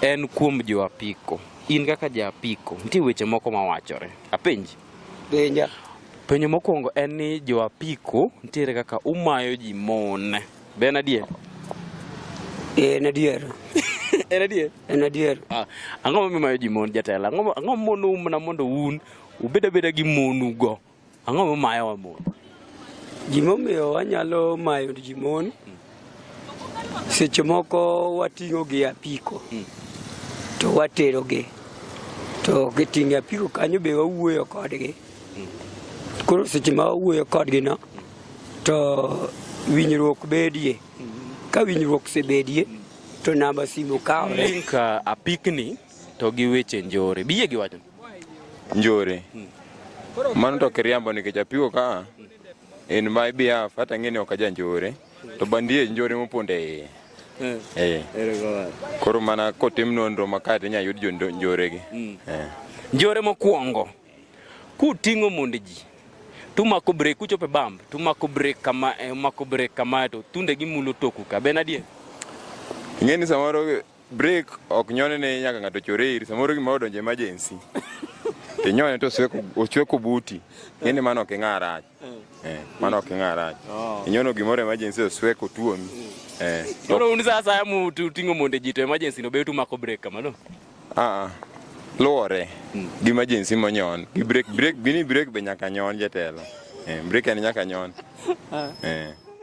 En kuom jo apiko. In kaka ja apiko, nitie weche moko ma wachore. Apenji. Penja. Penjo mokwongo en ni jo apiko nitiere kaka umayo ji mon. Be en adier? Eh, en adier. En adier? En adier. Ah, ang'o momiyo umayo ji mon jatelo? Ang'o ang'o monou mana mondo un ubed abeda gi monugo? Ang'o momayowa mon? Gimomiyo wanyalo mayo ji mon, seche moko wating'o gi apiko to watero gi to giting'o apiko kanyo be wawuoyo kodgi koro seche ma wawuoyo kodgi no to winjruok bedie ka winjruok osebedie to namba simu kawre. Link uh, apikni to gi weche njore. Biyie gi wachno. njore mano to kiriambo nikech apiko ka in my behalf hata ng'e ni ok aja njore to bandie njore mopondo e iye Eh. Eh. Koro mana kotim nonro makati inya yud jonjore gi. Mm. Eh. Njore mokwongo kuting'o mond ji tumako brek kuchope bamb tumako brek kama eh, mako brek kama to tunde gi mulo toku ka ben adier. Ing'e ni samoro Break ok nyone ne nyaka ng'ato chore iri samoro gima odonje emergency. Inyone to osweko buti. Ng'eni mano ok ing'a rach. Eh, eh mano ok ing'a rach. Oh. Inyono gimoro emergency osweko tuomi. Eh. Koro un sasa ya mutu tingo monde ji to emergency no betu mako break kamano. Ah ah. Luore. Hmm. Gi emergency monyon. Gi break break bini break be nyaka nyon jetelo. Eh, break en nyaka nyon. Ah. Eh.